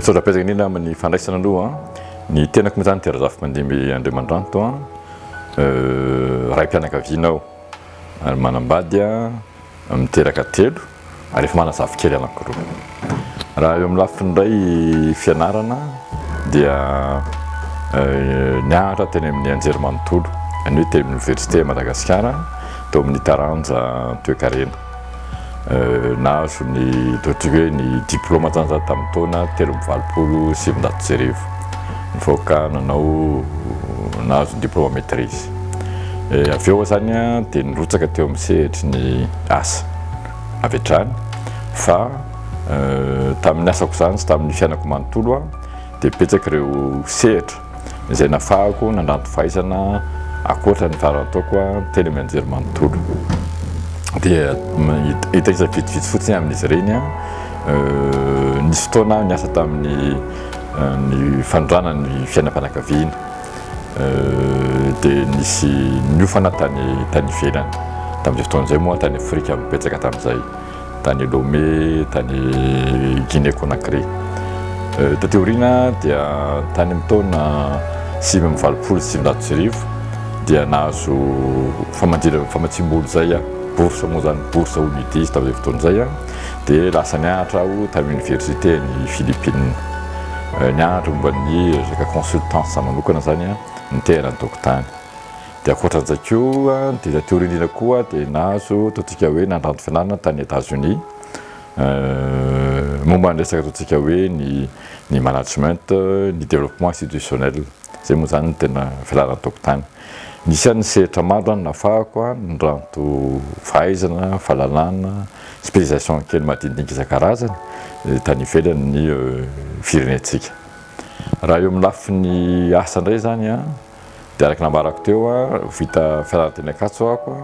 Sorapirenena amin'ny fandraisana aloha ny tenako moa zany dia Razafimandimby Andriamandranto a raim-pianakaviana aho ary manambady a miteraka telo ary efa manana zafikely anankiroa. Raha eo amin'ny lafiny indray fianarana dia nianatra teny amin'ny anjerimanontolo, ny hoe teny oniversite Madagasikara tao amin'ny taranja toekarena. Nahazo ny hoe ny diplôma zany za tamin'ny taona telo amby valopolo sy sivinjato sy arivo. Nivoaka nanao nahazo ny diplôma maîtrise. Avy eo zany dia nirotsaka teo amin'ny sehatry ny asa. avy hatrany fa tamin'ny asako izany sy tamin'ny fiainako manontolo aho dia betsaka ireo sehatra izay nafahako nandranto fahaizana akoatra ny farany ataoko teny amin'ny anjery manontolo dia hitaisa vitsivitsy fotsiny amin'izy ireny a nisy fotoana aho niasa tamin'ny ny fanondranan'ny fiainam-panakaviana dia nisy niofana tany tany ivelany tamin'izay fotoana izay moa tany Afrika betsaka tamin'izay tany Lomé tany Guinée Conakry euh, taty aoriana dia tany amin'ny taona sivy amby valopolo sy sivinjato sy arivo dia nahazo famadira famatsiam-bola izay bourse moa izany bourse onidis tamin'izay fotoana izay dia lasa nianatra aho tamin'ny oniversiten'i Philippines. Eh, nianatra momba ny resaka consultance za manokana zany a, ny tehana ny dokotany. Dia ankoatran'izay koa, ny tena teoria indrindra koa dia nahazo ataontsika hoe nandranto fianarana tany États-Unis. Eh, momba ny resaka ataontsika hoe ny ny management, ny développement institutionnel. Izay moa izany no tena fialana an-tokotany. Isan'ny sehatra maro no nafahako, ny ranto fahaizana, fahalalana, spécialisation kely madinidinika isan-karazany tany ivelan'ny firenentsika. Raha eo amin'ny lafiny asa indray izany dia araka ny nambarako teo, vita fianarana teny Ankatso aho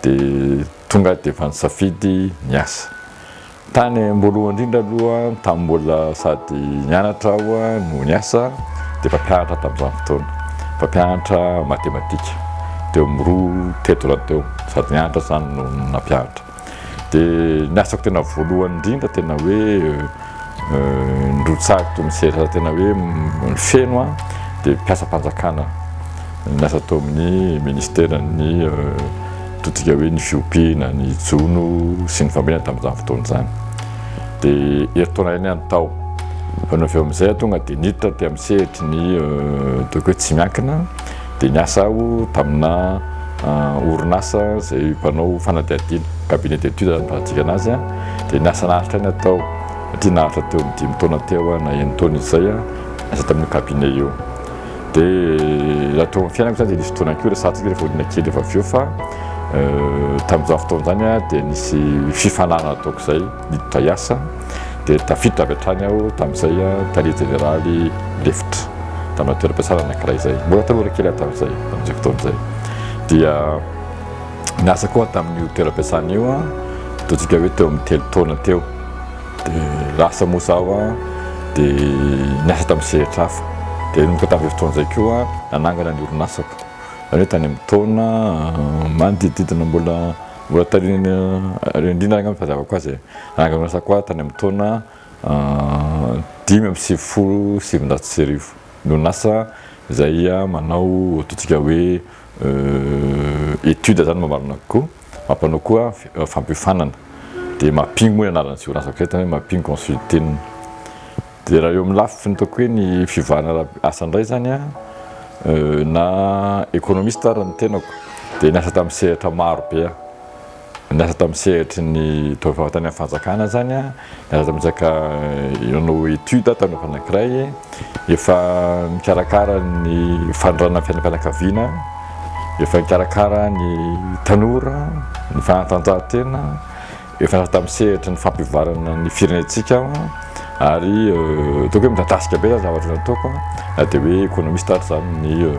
dia tonga aho dia efa nisafidy ny asa. Tany am-boalohany indrindra aloha, tamin'ny mbola sady nianatra aho no niasa, dia mpampianatra tamin'izany fotoana. Mpampianatra matematika, teo amin'ny roa, teto raha teo, sady nianatra izany no nampianatra. Dia ny asako tena voalohany indrindra, tena hoe nirotsahako ny sehatra tena hoe feno aho, dia mpiasam-panjakana, niasa tao amin'ny ministeran'ny. Totika hoe ny fiompiana, ny jono sy ny fambolena tamin'izany fotoana izany. Dia herintaona iray ny any tao. Fa no avy eo amin'izay aho tonga dia niditra taty amin'ny sehatry ny ataoko hoe tsy miankina dia niasa aho tamina orinasa izay mpanao fanadihadiana, cabinet d'études izany farantsika anazy, dia niasa naharitra ny atao satria naharitra teo amin'ny dimy taona teo na enin-taona izay niasa tamin'io cabinet io. Dia raha teo amin'ny fiainako zany dia nisy fotoana koa resahantsika hoe rehefa olona kely efa avy eo fa tamin'izany fotoana izany dia nisy fifanarahana ataoko izay niditra hiasa dia tafiditra avy hatrany aho tamin'izay tale jeneraly lefitra tamina toeram-piasana anankiray izay mbola tanora kely aho tamin'izay tamin'izay fotoana izay dia niasa koa tamin'io toeram-piasana io ataontsika hoe teo amin'ny telo taona teo Dia lasa moa zaho an, dia niasa tamin'ny sehatra hafa. Dia nanomboka tamin'izay fotoana izay koa nanangana ny orinasako. Izany hoe tany amin'ny taona manodidididina mbola mbola taorian'ny Andriana angamba no fahazaavako azy e. Nanangana ny orinasako aho tany amin'ny taona dimy amby sivifolo sy sivinjato sy arivo. Ny orinasa izay manao ataontsika hoe étude izany mamarana kokoa. Mampanao koa fampiofanana dia mapping moa ny anaran'izay orinasa vao eto, mapping consulting. Dia raha eo amin'ny lafiny ataoko hoe ny fivoarana ara asa indray izany an, na économiste ary ny tenako dia niasa tamin'ny sehatra maro be aho. Niasa tamin'ny sehatry ny, tamin'ny fanjakana izany an. Aza mizaka hanao étude ato hanao fanakiray efa mikarakara ny fandrana fiainam-pianakaviana efa mikarakara ny tanora ny fanatanjahantena efa nasa tamin'ny sehatra ny fampivoarana ny firenentsika ary euh, tokoe midadasika be zany zavatra nataoko na dia hoe économiste ary zany ny euh,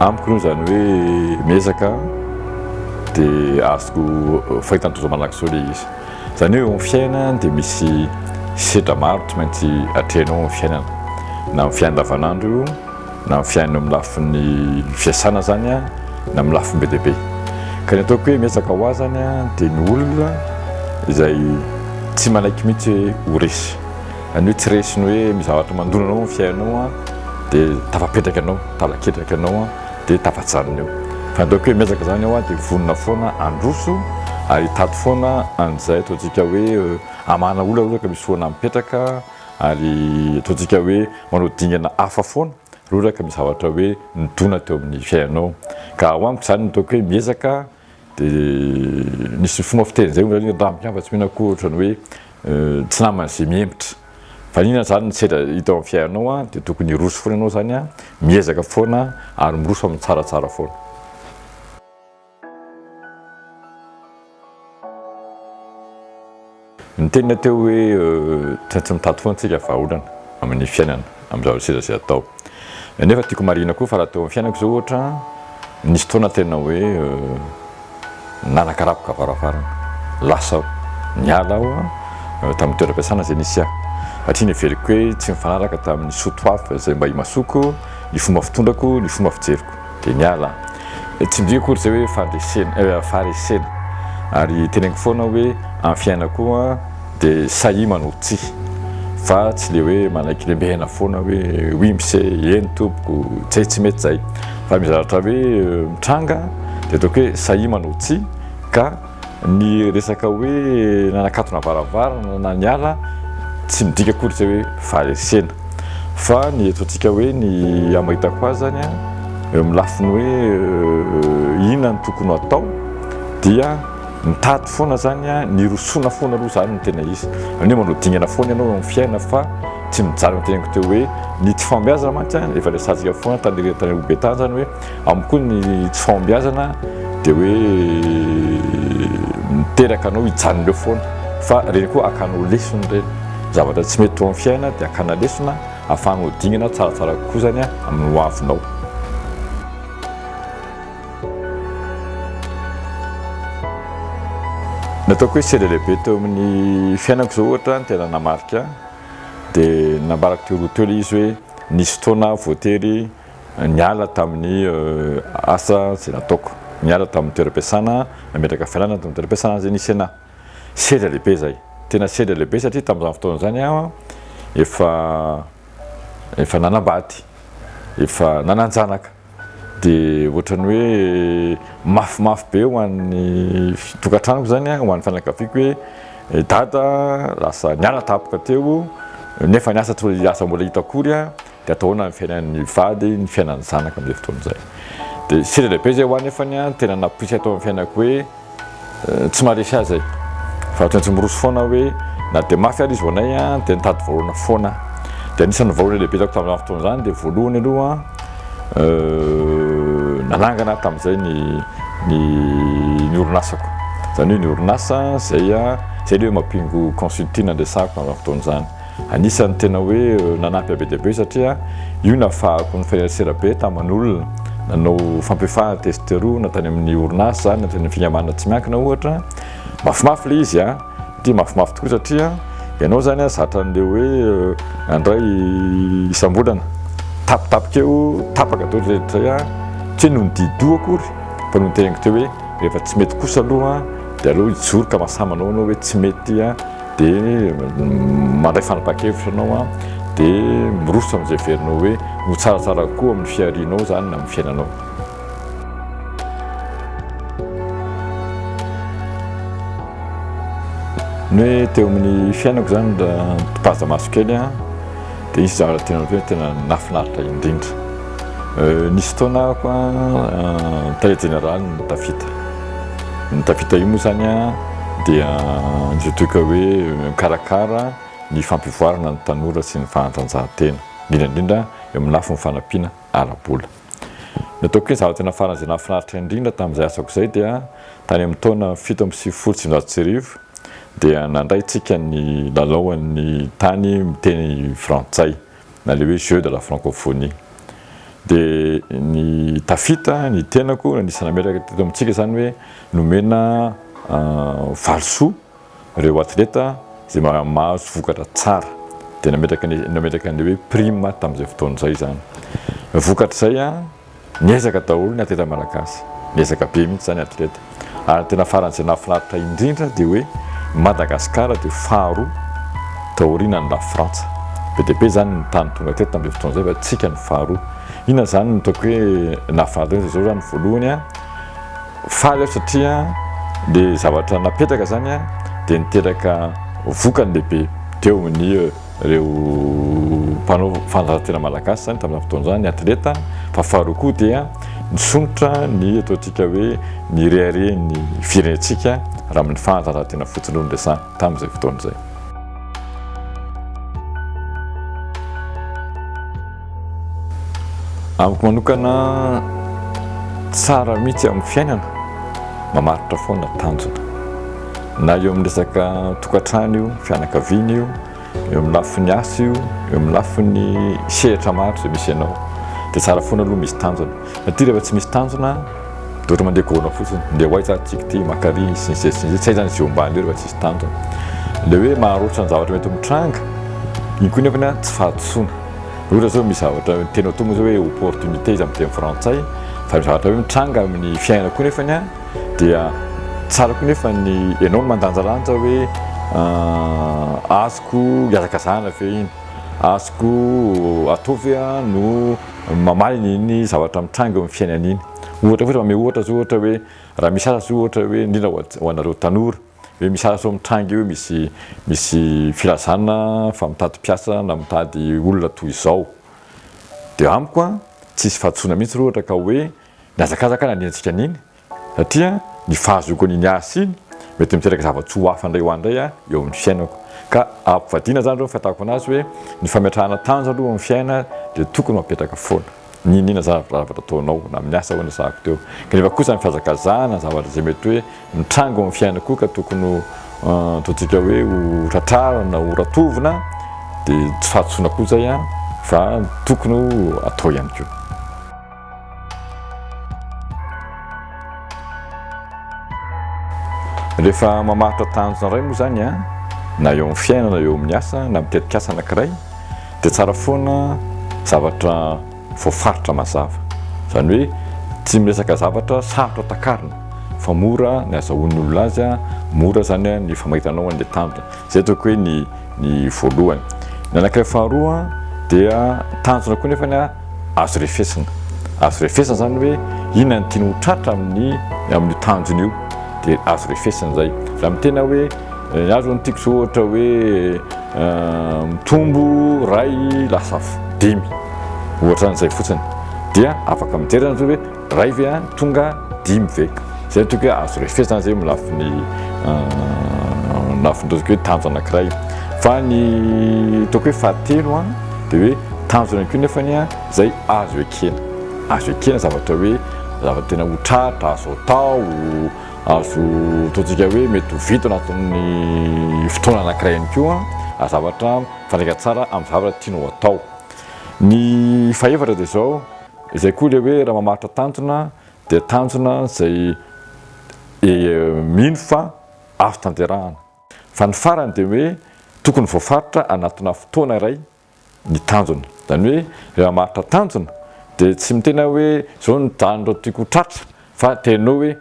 Amiko aloha izany hoe miezaka dia azoko fahitany tojo malakisoa ilay izy. Izany hoe eo amin'ny fiainana dia misy sedra maro tsy maintsy atrehanao amin'ny fiainana. Na amin'ny fiainana andavanandro io, na amin'ny fiainana amin'ny lafin'ny fiasana izany an, na amin'ny lafiny be dia be. Ka ny ataoko hoe miezaka ho ahy izany an dia ny olona izay tsy manaiky mihitsy hoe ho resy. Zany hoe tsy resiny hoe misy zavatra mandona anao amin'ny fiainanao an, dia tafapetraka ianao, tala-ketraka ianao an, dia tafajanona eo. Fa ny ataoko hoe miezaka zany aho an, dia vonona foana handroso ary hitady foana an'izay ataontsika hoe hamahana olona raha ohatra ka misy foana mipetraka ary ataontsika hoe manao dingana hafa foana raha ohatra ka misy zavatra hoe nidona teo amin'ny fiainanao. Ka ho amiko zany ny ataoko hoe miezaka Dia nisy fomba fiteny izay hoy ny vahiny, raha mikambana tsy mihena akoho ohatrany hoe tsy namana izay mihemotra. Fa inona izany ny sedra hita ao amin'ny fiainanao dia tokony hiroso foana ianao izany, miezaka foana ary miroso amin'ny tsaratsara foana. Niteny ilay teo hoe tsy tsy mitady foana tsika vahaolana amin'ny fiainana amin'ny zavatra seza izay atao. Nefa tiako marihina koa fa raha teo amin'ny fiainako izao ohatra nisy fotoana tena hoe nanakarapoka varavarana, lasa aho, niala aho tamin'ny toeram-piasana izay nisy ahy satria neveriko hoe tsy nifanaraka tamin'ny sotoavy izay mba imasoko, ny fomba fitondrako, ny fomba fijeriko. Dia miala an! Tsy ndry akory izay hoe fandresena, faharesena. Ary teneniko foana aho hoe amin'ny fiainana koa dia sahia manoro tsihy. Fa tsy ilay hoe manaiky lembehana foana hoe oui mise, eny tompoko, izay tsy mety izay. Fa ny zavatra hoe mitranga dia ataoko hoe sahia manoro tsihy ka. Ny resaka hoe nanakatona varavarana na niala tsy midika akory izay hoe faharesena fa ny eto antsika hoe ny amahitako azy zany an eo amin'ny lafiny hoe inona no tokony ho atao dia mitady foana zany an ny hirosoana foana aloha zany no tena izy zany hoe manao dingana foana ianao eo amin'ny fiainana fa tsy mijaly ny tenako teo hoe ny tsy fahombiazana mantsy an efa resahantsika foana tany tany Ambohibetany zany hoe Amiko koa ny tsy fahombiazana dia hoe miteraka anao hijanona eo foana fa ireny koa akanao lesona ireny. Zavatra tsy mety teo amin'ny fiainana dia akana lesona ahafahanao dingana tsaratsara kokoa izany amin'ny ho avinao. Ny ataoko hoe sehatra lehibe teo amin'ny fiainako izao ohatra ny tena namarika dia nambarako teo aloha teo ilay izy hoe nisy fotoana aho voatery Niala tamin'ny asa izay nataoko. Niala tamin'ny toeram-piasana, nametraka fialana tamin'ny toeram-piasana izay nisy anà. Sedra lehibe izay. Tena sedra lehibe satria tamin'izany fotoana izany aho efa efa nanambady, efa nanan-janaka. Dia ohatran'ny hoe mafimafy be ho an'ny tokantranoko izany, ho an'ny fianakaviako hoe i Dada lasa niala tampoka teo, nefa ny asa tsy mbola hita akory. Dia atao ahoana ny fiainan'ny vady, ny fiainan'ny zanaka amin'izay fotoana izay? Dia sehatra lehibe izay ho ahy nefany an, tena napoitra ato amin'ny fiainako hoe tsy maharesy azy ahy. Fa ohatran'ny tsy miroso foana aho hoe na dia mafy ary izy ho anay an, dia nitady vahaolana foana aho. Dia anisan'ny vahaolana lehibe hitako tamin'izany fotoana izany dia voalohany aloha nanangana aho tamin'izay ny ny ny orinasako. Izany hoe ny orinasa izay izay ilay hoe Mapingo Consulting no resahako tamin'izany fotoana izany. Anisan'ny tena hoe nanampy be dia be satria io nafahako ny filaisera be taman'olona nanao fampiofanana testosterone na tany amin'ny orinasa na tany amin'ny fikambanana tsy miankina ohatra. Mafimafy ilay izy a! Dia mafimafy tokoa satria ianao izany a zatra an'ilay hoe nandray isam-bolana tapitapika eo, tapaka daholo izay rehetra izay a! Tsy hoe noho ny didoha akory fa noho ny teneniko teo hoe rehefa tsy mety kosa aloha dia aleo hijoro ka mahasahy manao anao hoe tsy mety a! dia mandray fanapahan-kevitra ianao, dia miroso amin'izay heverinao hoe ho tsaratsara kokoa amin'ny fiharianao izany na amin'ny fiainanao. Ny hoe teo amin'ny fiainako izany raha mpitazona maso kely an, dia hisy zavatra tena hoe tena nahafinaritra indrindra. Euh, nisy fotoana aho an, euh, tale jeneraly ny tafita. Ny tafita io moa zany dia izay toika hoe mikarakara ny fampivoarana ny tanora sy ny fahantrantsahan-tena, indrindra indrindra eo amin'ny lafiny fanampiana ara-bola. Ny ataoko hoe zava-tena farany izay nahafinaritra indrindra tamin'izay asako izay dia tany amin'ny taona fito amby sivifolo sy sivinjato sy arivo dia nandray tsika ny lalaoan'ny tany miteny frantsay. na ilay hoe jeu de la francophonie. Dia ny tafita, ny tenako, anisan'ny nametraka teto amintsika izany hoe nomena valisoa ireo atleta izay mahazo vokatra tsara. Dia nametraka ny nametraka an'ilay hoe prime tamin'izay fotoana izay izany. Vokatra izay. Niezaka daholo ny atleta malagasy, niezaka be mihitsy izany atleta. Ary ny tena farany izay nahafinaritra indrindra dia hoe i Madagasikara dia faharoa taorianan'i Lafrantsa. Be dia be izany ny tany tonga teto tamin'izay fotoana izay fa isika no faharoa. Inona izany no ataoko hoe nahafinaritra indrindra izao izany? Voalohany, faly aho satria ilay zavatra napetraka izany dia niteraka vokany lehibe teo amin'ny. ireo mpanao fanatanjahantena malagasy izany tamin'izany fotoana izany, ny atleta, fa faharoa koa dia nisondrotra ny ataontsika hoe ny reharehan'ny firenentsika raha amin'ny fanatanjahantena fotsiny no niresahana tamin'izay fotoana izay. Amiko manokana tsara mihitsy amin'ny fiainana, mamaritra foana tanjona. Na eo amin'ny resaka tokantrano io, fianakaviana io, eo amin'ny lafiny asa io, eo amin'ny lafiny sehatra maro izay misy anao. Dia tsara foana aloha misy tanjona. Satria rehefa tsy misy tanjona, dia ohatra mandeha goana fotsiny, ndeha ho aiza ary tsiky ity, maka ary sy ny sisa sy ny sisa. Tsy hay izany izay eo ambany eo rehefa tsy misy tanjona. Ilay hoe maharoso ny zavatra mety mitranga, iny koa nefany tsy fahadisoana. Ohatra zao misy zavatra tena atao moa zao hoe opportunité izy amin'ny teny frantsay fa zavatra hoe mitranga amin'ny fiainana koa nefany a dia tsara koa nefa ny ianao no mandanjalanja hoe ah, azoko iazakazahana ve iny azoko atao ve a no mamaly iny zavatra mitranga eo amin'ny fiainana iny ohatra fotsiny mame ohatra zao ohatra hoe raha misy asa zao ohatra hoe indrindra ho anareo tanora Ve misy azo mitranga eo misy misy filazana fa mitady mpiasa na mitady olona toy izao? Dia amiko an, tsy hisy fahadisoana mihitsy raha ohatra ka hoe nihazakazaka aho nanenjika an'iny satria ny fahazoako an'iny asa iny mety miteraka zava-tsoa hafa indray ho ahy indray eo amin'ny fiainako. Ka ampivadiana izany izao ny fahitako an'azy hoe ny fametrahana tanjo aloha eo amin'ny fiainana dia tokony ho apetraka foana. Niniana za zavatra ataonao na amin'ny asa hono sahako teo kanefa kosa ny fihazakazahana zavatra izay mety hoe mitranga eo amin'ny fiainako ka tokony ho ataontsika hoe ho tratrarina ho ratovina dia tsy fahadisoana koa izay fa tokony ho atao ihany koa. Rehefa mamaritra tanjona iray moa izany na eo amin'ny fiainana eo amin'ny asa na amin'ny tetikasa anankiray Dia tsara foana zavatra voafaritra mazava. Izany hoe tsy miresaka zavatra sarotra takarina fa mora ny azahoan'ny olona azy, mora izany ny famaitana ao an'ilay tanjona. Izay ataoko hoe ny ny voalohany. Ny anankiray faharoa dia tanjona koa nefany azo refesina. Azo refesina izany hoe inona no tiany ho tratra amin'ny amin'io tanjona io dia azo refesina izay. Raha miteny aho hoe ny ahy izao no tiako izao ohatra hoe Mitombo iray lasa dimy, ohatran'izay fotsiny. Dia afaka midera ianareo hoe iray ve a, tonga dimy ve? Izay no tokony hoe azo refesana izay amin'ny lafiny lafiny ataontsika hoe tanjona anankiray. Fa ny ataoko hoe fahatelo a, dia hoe tanjona ihany koa nefany a, izay azo ekena. Azo ekena zavatra hoe zavatra tena ho tratra, azo atao. Azo tohintsika hoe mety ho vita ao anatin'ny fotoana anankiray ihany koa ary zavatra mifandraika tsara amin'ny zavatra tianao atao. Ny fahefatra dia izao, izay koa ilay hoe raha mamaritra tanjona dia tanjona izay mino fa azo tanterahana. Fa ny farany dia hoe tokony voafaritra anatina fotoana iray ny tanjona. Izany hoe rehefa maharitra tanjona dia tsy miteny aho hoe izao ny tanjona tiako ho tratra fa teneno hoe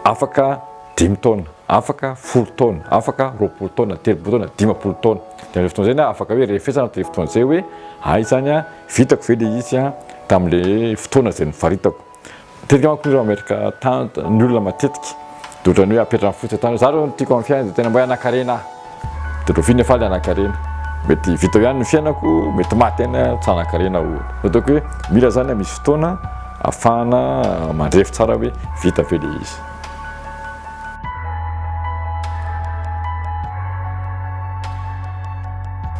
afaka dimy taona, afaka folo taona, afaka roapolo taona, telopolo taona, dimampolo taona. Dia amin'izay fotoana izay na afaka hoe rehefesana aho tamin'izay fotoana izay hoe hay izany an, vitako ve ilay izy an tamin'ilay fotoana izay nifaritako. Matetika manko ireo amerika tany ny olona matetika de otrany hoe apetra ny fotsiny tany za reo ny tiako am fiainana de tena mba hoe anakarena ahy de otrany fine faly anakarena mety vita eo ihany ny fiainako mety maty ihany aho tsy anakarena ohatra fa ataoko hoe mila zany misy fotoana afahana mandrefy tsara hoe vita ve le izy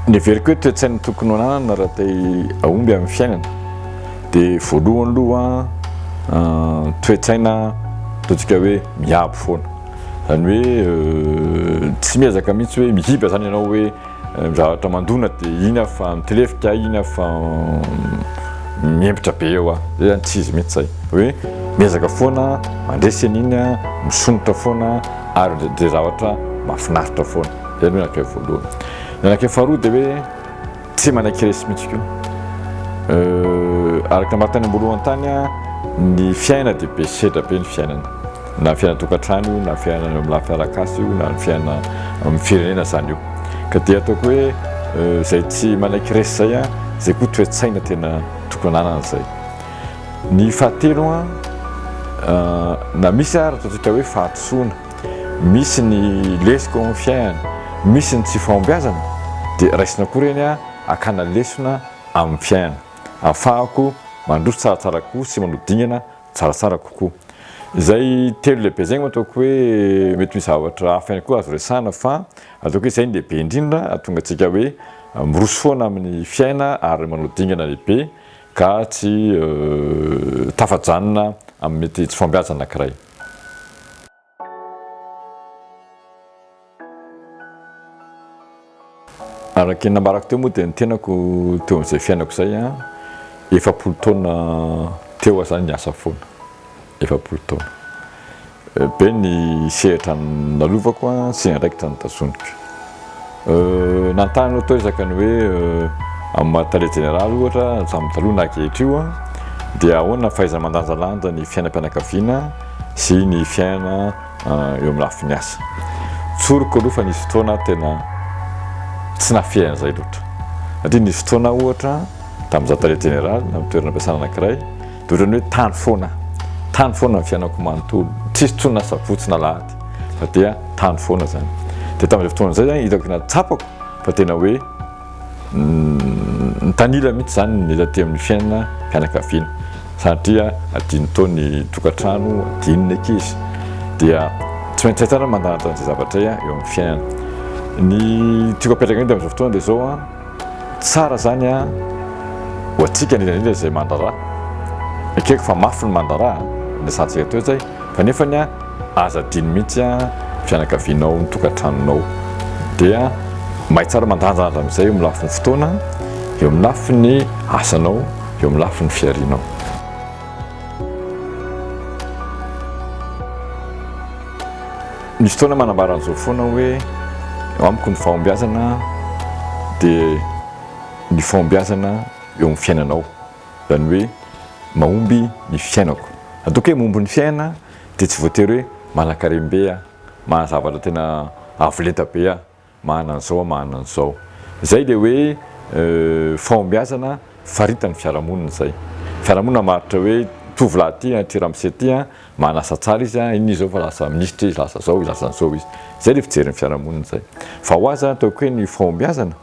Ny heveriko hoe toe-tsaina tokony ho ananana raha te hahomby amin'ny fiainana dia voalohany aloha ah, toe-tsaina ataontsika hoe miabo foana. Izany hoe euh, tsy miezaka mihitsy hoe mihiba izany ianao hoe Ny zavatra mandona de iny aho fa mitilefika aho iny aho fa mihempotra be eo aho, zay zany tsy izy mihitsy zay, hoe miezaka foana mandresy an'iny aho, misomotra foana ary midre zavatra mahafinaritra foana, zay aloha ny anak'iray voalohany. Ny anak'iray faharoa de hoe tsy manaiky resy mihitsy koa, araka ny maha tany amboalohany tany aho ny fiainana de be sedra be ny fiainana, na fiainan-tokantrano io na fiainana eo amin'ny lafiny arak'asa io na ny fiainana amin'ny firenena izany io ka dia ataoko hoe izay tsy manaiky resy izay a izay koa toe-tsaina tena tokony ananana izay ny fahatelo a na misy ary ataontsika hoe fahatosoana misy ny lesiko amin'ny fiainana misy ny tsy fahombiazana dia raisina koa ireny a akana lesona amin'ny fiainana afahako mandroso tsaratsara koa sy manodingana tsaratsara kokoa. Izay telo lehibe izay no ataoko hoe mety misy zavatra hafa ihany koa azo resahana fa ataoko hoe izay no lehibe indrindra hahatonga antsika hoe miroso foana amin'ny fiaina ary manao dingana lehibe ka tsy tafajanona amin'ny mety tsy fahombiazana anankiray. Araka ny nambarako teo moa dia ny tenako teo amin'izay fiainako izay an, efapolo taona teo aho izany niasa foana, efapolo taona. Be ny sehatra nalovako an, sy andraikitra notazoniko. Nanontany anao tao isaka ny hoe amin'ny maha tale jeneraly ohatra hatramin'ny taloha na ankehitr'io dia ahoana ny fahaiza-mandanjalanja ny fiainam-pianakaviana sy ny fiainana eo amin'ny lafiny asa? Tsoriko aloha fa nisy fotoana tena tsy nafehy an'izay loatra satria nisy fotoana ohatra tamin'izaho tale jeneraly amin'ny toerana ampiasana anankiray Ohatrany hoe tany foana, tany foana ny fiainako manontolo, tsisy intsony na sabotsy na alahady fa dia tany foana izany. Dia tamin'izay fotoana izay izany hitako na tsapako fa tena hoe nitanila mihitsy izany ny taty amin'ny fiainana fianakaviana satria adino tao ny tokantrano, adino ny ankizy dia tsy maintsy hay tsara mandanitra an'izay zavatra izay eo amin'ny fiainana. Ny tiako apetraka indray tamin'izao fotoana dia izao an. Tsara zany a! Ho antsika indrindra indrindra izay mandraraha. Ekeko fa mafy ny mandraraha a! Ny asantsika toetra e! Fa nefany a! Aza adino mihitsy a! Ny fianakavianao, ny tokantranonao dia may tsara mandrandrandra amin'izay eo amin'ny lafiny fotoana, eo amin'ny lafiny asanao, eo amin'ny lafiny fiharianao. Misy fotoana manambara an'izao foana hoe amiko ny fahombiazana dia ny fahombiazana eo amin'ny fiainanao, izany hoe mahomby ny fiainako. Ataoko hoe mahomby ny fiainana dia tsy voatery hoe manankarem-be aho, maha zavatra tena avo lenta be aho. mahana an'izao mahana an'izao. Izay dia hoe fahombiazana faritan'ny fiarahamonina izay. Fiarahamonina maharitra hoe tovolahy ity an, ity ramose ity an, mahana asa tsara izy an, iny izao fa lasa minisitra izy, lasa izao izy, lasa an'izao izy. Izay ilay fijerin'ny fiarahamonina izay. Fa ho ahy izany ataoko hoe ny fahombiazana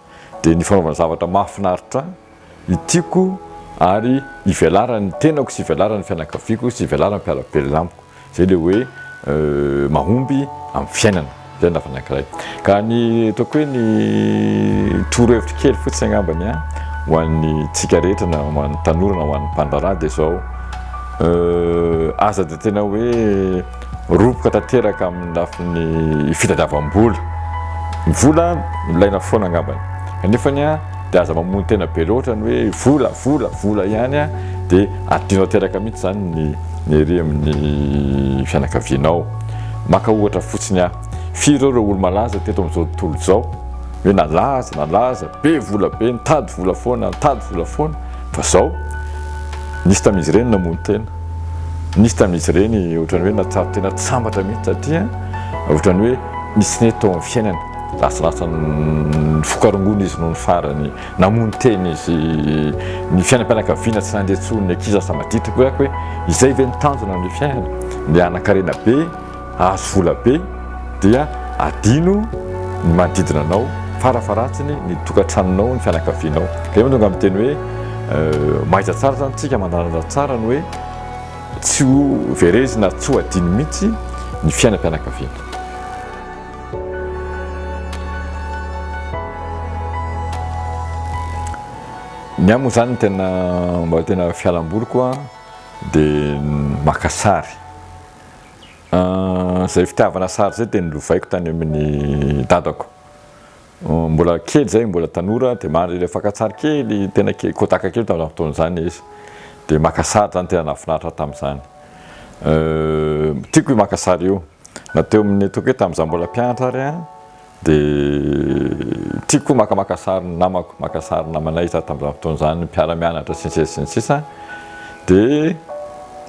dia ny fanaovana zavatra mahafinaritra ahy. ny tiako ary ivelaran'ny tenako sy ivelaran'ny fianakaviako sy ivelaran'ny mpiara-belona amiko. Izay ilay hoe mahomby amin'ny fiainana. Izay ny lafiny anankiray. Ka ny ataoko hoe ny torohevitro kely fotsiny angambany ho an'ny tsika rehetra na ho an'ny tanora na ho an'ny mpandraharaha dia izao, aza dia tena hoe. Roboka tanteraka amin'ny lafiny fitadiavam-bola. Ny vola ilaina foana angambany. Kanefa dia aza mamono tena be loatra ny hoe vola, vola, vola ihany dia adino tanteraka mihitsy izany ny ny ery amin'ny fianakavianao. Maka ohatra fotsiny aho, firy ireo ireo olo-malaza teto amin'izao tontolo izao hoe nalaza, nalaza, be vola be, nitady vola foana, nitady vola foana. Fa zao, nisy tamin'izy ireny namono tena, nisy tamin'izy ireny ohatrany hoe nahatsapa tena tsy sambatra mihitsy satria ohatrany hoe nisy nety tao amin'ny fiainany, lasilasa nifoka rongony izy nony farany, namono tena izy, ny fiainam-pianakaviana tsy nandeha intsony, ny ankizy lasa madity, hoe izay ve no tanjona amin'ny fiainana? Ny hanan-karena be. ahazo vola be dia adino ny manodidina anao, farafaharatsiny ny tokantranonao, ny fianakavianao. Dia eo no tonga miteny hoe mahaiza tsara izany isika mandanjalanja tsara ny hoe tsy ho verezina ary tsy ho adino mihitsy ny fiainam-pianakaviana. Ny ahy moa izany ny tena mba tena fialamboly koa dia maka sary. Izay fitiavana sary izay dia nolovaiko tany amin'ny dadako. Mbola kely izay, mbola tanora dia mandry ilay fakantsary kely tena kely, Kodak kely tamin'izany fotoana izany izy. Dia maka sary izany, tena nahafinaritra ahy tamin'izany. Tiako io maka sary io. Na teo amin'ny, ataoko hoe tamin'izaho mbola mpianatra ary an. Dia tiako koa maka maka sary ny namako, maka sary ny namanay za tamin'izany fotoana izany, mpiara-mianatra sy ny sisa sy ny sisa. Dia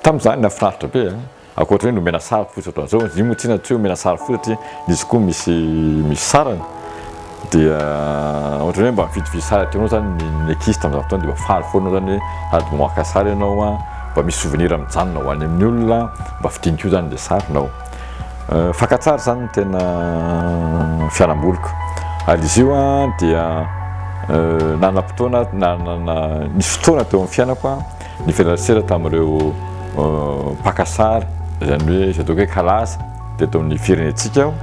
tamin'izany nahafinaritra be a! Ankoatra hoe nomena sary fotsy ohatran'izao, izy io moa tsinona tsy hoe omena sary fotsy satria izy koa misy misy sarany. Dia ohatran'ny hoe mba mividividy sary ataonao izany ny ny ankizy tamin'izany fotoana dia mba faly foana izany hoe sady mba maka sary ianao a, mba misy souvenir mijanona ho any amin'ny olona, mba fidiny koa izany ilay sarinao. Fakantsary izany no tena fialamboliko. Ary izy io dia nanam-potoana, nanana, nisy fotoana teo amin'ny fiainako nifanerasera tamin'ireo mpaka sary, izany hoe izay ataoko hoe kalaza, teto amin'ny firenentsika aho.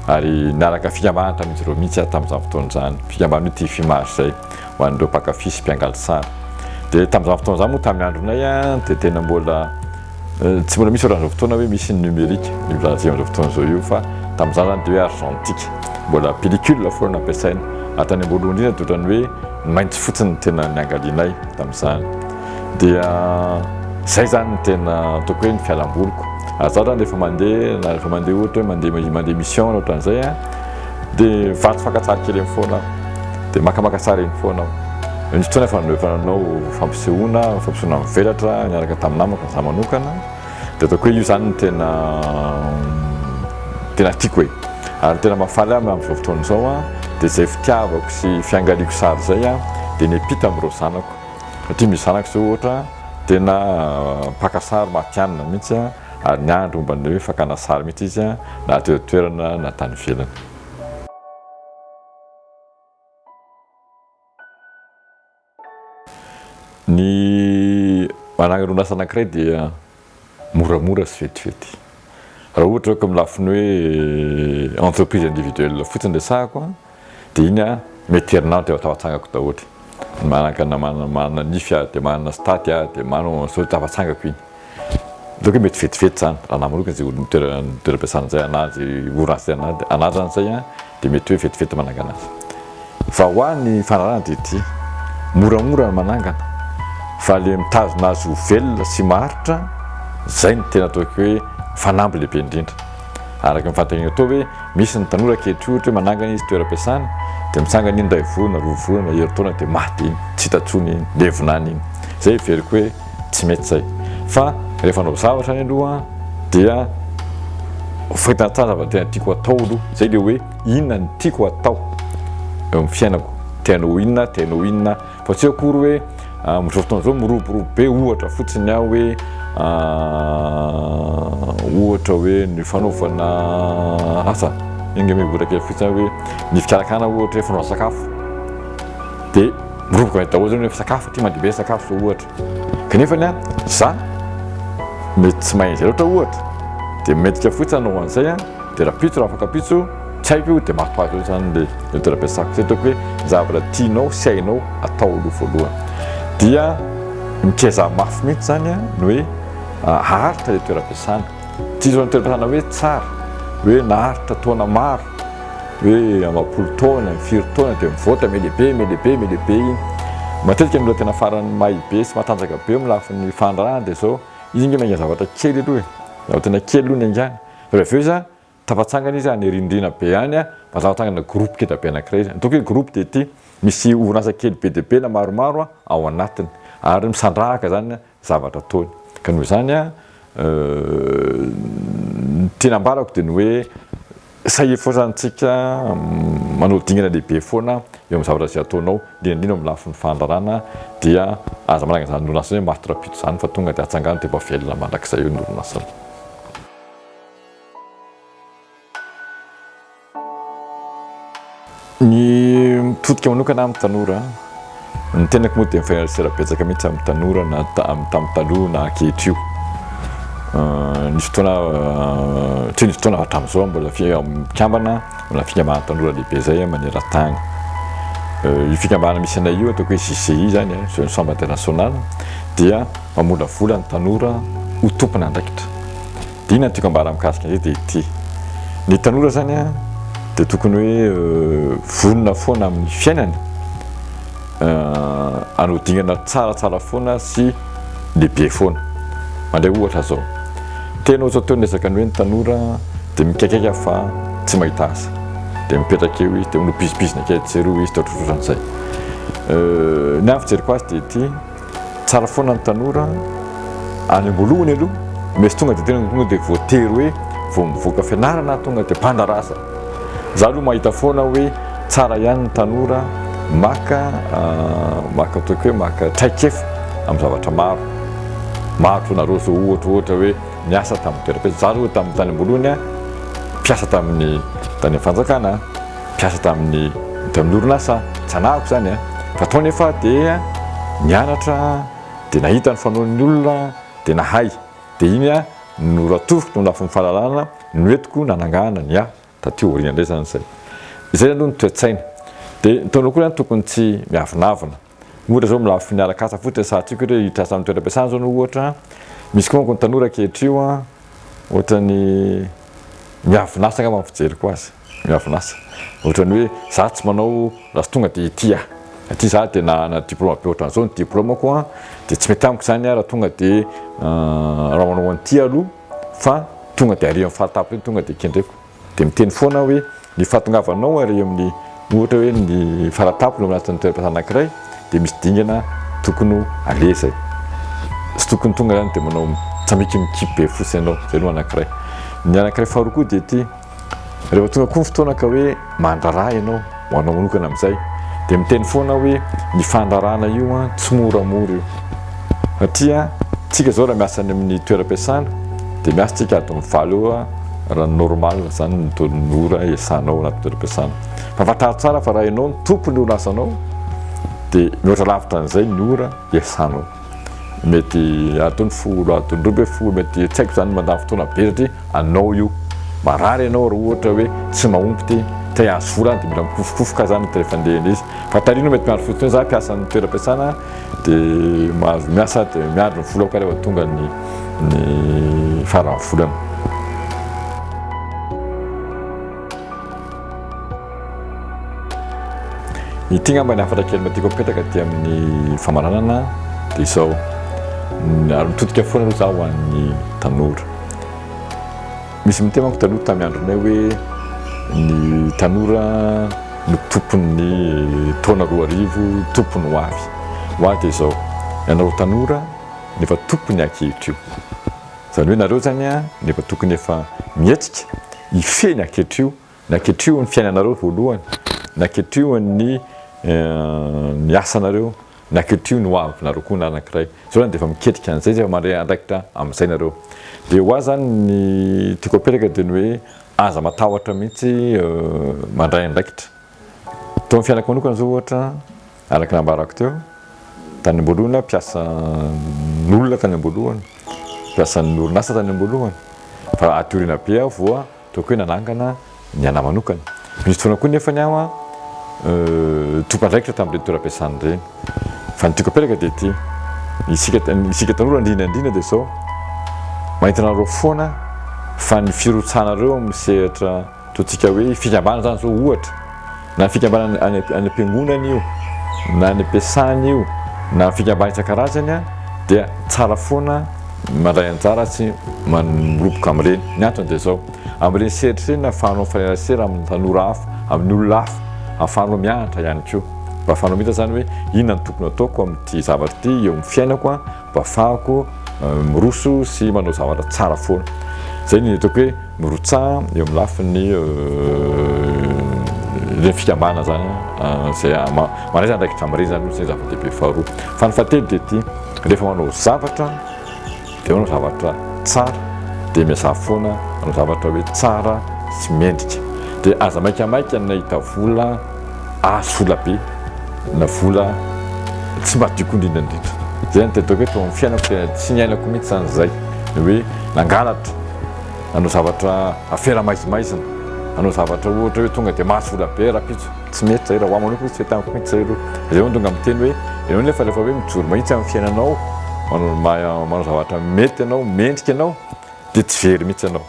Ary niaraka fikambanana tamin'izy ireo mihitsy aho tamin'izany fotoana izany, fikambanana hoe TFIMAR izay, ho an'ireo mpakafy sy mpiangaly sary. Dia tamin'izany fotoana izany moa tamin'ny andronay dia tena mbola Tsy mbola misy ohatr'an'izao fotoana hoe misy ny numérique io lahazainao izao fotoana izao io fa tamin'izany izany dia hoe argentique, mbola pellicule foana no ampiasaina ary tany am-boalohany indrindra dia ohatran'ny hoe ny mainty fotsiny no tena niangalianay tamin'izany. Dia izay izany no tena ataoko hoe ny fialamboliko ary izaho izany rehefa mandeha na rehefa mandeha ohatra hoe mandeha mandeha mission na ohatran'izay a Dia vato fakantsary kely eny foana aho. Dia makamaka sary eny foana aho. Nisy fotoana efa efa nanao fampisehoana, fampisehoana mivelatra niaraka tamin'ny namako ny za manokana. Dia ataoko hoe io izany no tena tena tiako e. Ary ny tena mahafaly ahy amin'izao fotoana izao dia izay fitiavako sy fiangaliako sary izay dia miampita amin'ireo zanako. Satria misy zanako izao ohatra tena mpaka sary matihanina mihitsy. ary ny andro momba ny hoe fakana sary mihitsy izy na teo an-toerana na tany ivelany. Ny manangana orinasa anankiray dia moramora sy vetivety. Raha ohatra hoe amin'ny lafiny hoe entreprise individuelle fotsiny resahako, Dia iny aho, mety herinandro dia lasa atsangako daholo. Manaka na manana nify aho, dia manana sitady aho, dia manana manao izao, dia lasa atsangako iny. Aleo koa mety vetivety izany, raha namanao koa izay olona mitera- ny toeram-piasana izay anà, izay orinasa izay anà, dia anandrana izay an! dia mety hoe vetivety manangana azy. Fa ho ahy ny fanarahana dia ity, moramora ny manangana, fa ilay mitazona azy ho velona sy maharitra, izay no tena ataoko hoe fanamby lehibe indrindra. Araka ny fanontaniana toa hoe misy ny tanora ankehitriny ohatra hoe manangana izy toeram-piasana dia mitsangana iny iray volana, roa volana, herintaona dia maty iny, tsy hita intsony iny, levona any iny. Izay heveriko hoe tsy mety izay. Fa rehefa hanao zavatra any aloha dia fahitana tsara zavatra tena tiako atao aloha. Izay ilay hoe inona no tiako atao eo amin'ny fiainako, tena ho inona, tena ho inona. Fa tsy akory hoe amin'izao fotoana izao miroborobo be ohatra fotsiny aho hoe ohatra hoe ny fanaovana asa enga me ohatra kely fotsiny hoe ny fikarakarana ohatra hoe fanaovana sakafo dia miroboka ny daholo zany hoe sakafo aty mandeha be sakafo zao ohatra kanefa ny a za mety tsy mahay izay loatra ohatra dia mendrika fotsiny anaovana izay a dia rahampitso raha afaka pitso Tsy haiko io dia mafy azy eo izany ilay ilay toetra ampiasako satria ataoko hoe ny zavatra tianao sy hainao atao aloha voalohany dia mikezaha mafy mihitsy izany a ny hoe haharitra ilay toeram-piasana. Tsy hisy izany toeram-piasana hoe tsara hoe naharitra taona maro hoe amam-polo taona, firy taona dia mivoatra me lehibe me lehibe me lehibe iny. Matetika ny olona tena farany may be sy matanjaka be eo amin'ny lafiny fandraharana dia izao, izy ange miainga zavatra kely aloha e, zavatra tena kely aloha ny haingana, avy eo izy a. Tafatsangana izy any rindrina be any mba tafatsangana groupe keda be anakiray izy. Ny ataoko hoe groupe dia ity, misy orinasa kely be dia be na maromaro ao anatiny ary misandrahaka zany ny zavatra ataony. Ka noho izany ny tiana ambarako dia ny hoe sahia foana zany tsika manao dingana lehibe foana eo amin'ny zavatra izay ataonao indrindra indrindra eo amin'ny lafiny fandrarana dia aza manangana izany orinasa izany hoe mafy rahampitso izany fa tonga dia atsangano dia mba velona mandrakizay eo ny orinasa. Ny mitodika manokana amin'ny tanora, ny tenako moa dia mifanerasera betsaka mihitsy amin'ny tanora na tamin'ny tamin'ny taloha na ankehitr'io. Nisy fotoana tsy nisy fotoana hatramin'izao mbola fikambana, mbola fikambanana tanora lehibe izay maneran-tany. Io fikambanana misy anay io ataoko hoe JCI izany, Jeune Chambre Internationale, dia mamolavola ny tanora ho tompon'andraikitra. Inona no tiako ambara mikasika an'izay dia ity, ny tanora izany an, dia tokony hoe vonona foana amin'ny fiainana, hanao dingana tsaratsara foana sy lehibe foana. Mandray ohatra izao, tena ohatr'atao ny ezaka ny hoe ny tanora dia mikaikaika fa tsy mahita asa, dia mipetraka eo izy, dia manao bizibizina kely tsy ery hoy izy, dia ohatrohatran'izay. Ny ahy ny fijeriko azy dia ity. Tsara foana ny tanora any amboalohany aloha mesy tonga de tena tonga de voatery hoe vao mivoaka fianarana tonga de banda rasa za aloha mahita foana hoe tsara ihany ny tanora maka ah, maka ataoko hoe maka traikefa amin'ny zavatra maro maro toa nareo zao ohatra ohatra hoe niasa tamin'ny toeram-piasa za aloha tamin'ny tany amboalohany a mpiasa tamin'ny tany fanjakana mpiasa tamin'ny tamin'ny orinasa tsanahako izany a, fa tao anefa aho dia nianatra dia nahita ny fanaon'ny olona dia nahay, dia iny aho no ratoroko tao lafiny fahalalana no entiko nanangana ny ahy taty aoriana indray izany izay, izay aloha ny toe-tsaina, dia ny taona akory ihany tokony tsy miavonavona. Ohatra zao milaza fo niala katsaka fotsiny sady tsy haiko ohatra hoe hitrasa amin'ny toeram-piasana zao anao ohatra an, misy koa manko ny tanora ankehitr'io an, ohatran'ny miavon'asa angamba ny fijeriko azy, miavon'asa, ohatran'ny hoe za tsy manao raha tonga dia ity aho, aty za dia nanana diploma be ohatran'izao ny diplomako an, dia tsy mety amiko zany an raha tonga dia raha manao an'ity aloha fa tonga dia ary amin'ny fahatapitry iny tonga dia kendreko. Dia miteny foana aho hoe, ny fahatongavanao ary eo amin'ny ohatra hoe ny fara-tampony ao anatin'ny toeram-piasana anankiray dia misy dingana tokony ho aleha izay. Tsy tokony tonga izany dia manao tsamikimikipy be fotsiny ianao. Izay no anankiray. Ny anankiray faharoa koa dia ity, rehefa tonga koa ny fotoana ka hoe mandrara ianao, Ho anao manokana amin'izay dia miteny foana aho hoe ny fandrarana io an tsy moramora io satria tsika zao raha miasa any amin'ny toeram-piasana dia miasa tsika adin'ny valo eo an raha normal zany ny taon'ny ora iasanao anaty toeram-piasana fa fantaro tsara fa raha ianao ny tompon'ny orin'asanao dia mihoatra lavitra an'izay ny ora iasanao mety adiny folo adiny roa ambin'ny folo mety tsy haiko izany mandany fotoana be satria anao io marary ianao raha ohatra hoe tsy mahomby ity te hahazo vola dia mila mikofokofoka izany dia rehefa andeha an'izy fa tarihinao mety miandry fotsiny hoe za mpiasan'ny toeram-piasana dia mahazo miasa dia miandry ny volako ary efa tonga ny ny faran'ny volana Ity ngamba ny hafatra kely mba tiako apetaka aty amin'ny famaranana dia izao. Ary mitodika foana aloha zaho an'ny tanora. Misy miteny manko taloha tamin'ny andronay hoe ny tanora no tompon'ny taona roa arivo, tompony ho avy. Ho avy dia izao. Ianareo tanora no efa tompony ankehitr'io. Izany hoe nareo izany no efa tokony efa mihetsika, hifehy ny ankehitr'io Naketriho ny fiainanareo voalohany, naketriho ny ny asanareo, naketriho ny hoavinareo koa na anankiray. Zao zany dia efa miketrika an'izay, zay efa mandray andraikitra amin'izay nareo. Dia ho ahy zany ny tiako apetraka dia ny hoe aza matahotra mihitsy mandray andraikitra. Teo amin'ny fiainako manokana zao ohatra, araka ny nambarako teo, tany am-boalohany aho mpiasan'olona tany am-boalohany, mpiasan'ny orinasa tany am-boalohany, fa aty aoriana be aho voa. Toa koe nanangana ny anah manokana. Nisy fotoana koa nefany aho tompon'andraikitra tamin'ireny toeram-piasana ireny. Fa ny tiako apelaka dia ity, isika isika tanora indrindra indrindra dia izao, mahita anareo foana fa ny firotsahanareo amin'ny sehatra ataontsika hoe fikambanana izany izao ohatra, Na fikambanana any any am-piangonana io, na any am-piasana io, na fikambanana isan-karazany dia tsara foana ny mandray anjara sy miroboka amin'ireny. Ny antony dia izao, amin'ireny sehatra ireny no ahafahanao mifanerasera amin'ny tanora hafa, amin'ny olona hafa, ahafahanao mianatra ihany koa. Mba ahafahanao mahita izany hoe inona no tokony hataoko amin'ity zavatra ity eo amin'ny fiainako. mba afahako miroso sy manao zavatra tsara foana. Zay ny ataoko hoe mirotsaha eo amin'ny lafiny le fikambanana zany zay manaiza andraikitra amin'ireny zany zay zava-dehibe faharoa. Fa ny fahatelo dia ity, rehefa manao zavatra dia manao zavatra tsara dia miazà foana manao zavatra hoe tsara sy mendrika. Dia aza maikamaika ny nahita vola azo vola be na vola tsy madioka indrindra indrindra. Zay no tedoko hoe tao amin'ny fiainako dia tsy niainako mihitsy zany zay. Ny hoe nangalatra, nanao zavatra afera maizimaizina, nanao zavatra ohatra hoe tonga dia mahazo vola be rahampitso. Tsy mety zay raha ho ahy manokana tsy taniko mihitsy zay aloha. Zay vao no tonga miteny hoe ianao nefa rehefa hoe mijoro mahitsy amin'ny fiainanao, manao zavatra mety ianao, mendrika ianao dia tsy very mihitsy ianao.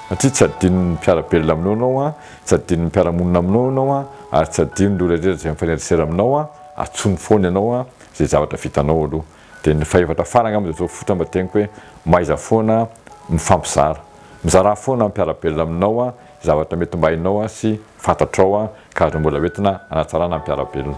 Satria tsy adinon'ny mpiara-belona aminao ianao Tsy adinon'ny mpiara-monina aminao ianao an, ary tsy adinon'ireo rehetra izay mifanerasera aminao an, antsoiny foana ianao an, izay zavatra vitanao aloha. Dia ny fahefatra farany angamba dia atao fototra mba teniko hoe, mahaiza foana mifampizara. Mizarà foana amin'ny mpiara-belona aminao an, izay zavatra mety mba hainao an, sy fantatrao an, ka azonao mbola hoentina hanatsarana ny mpiara-belona.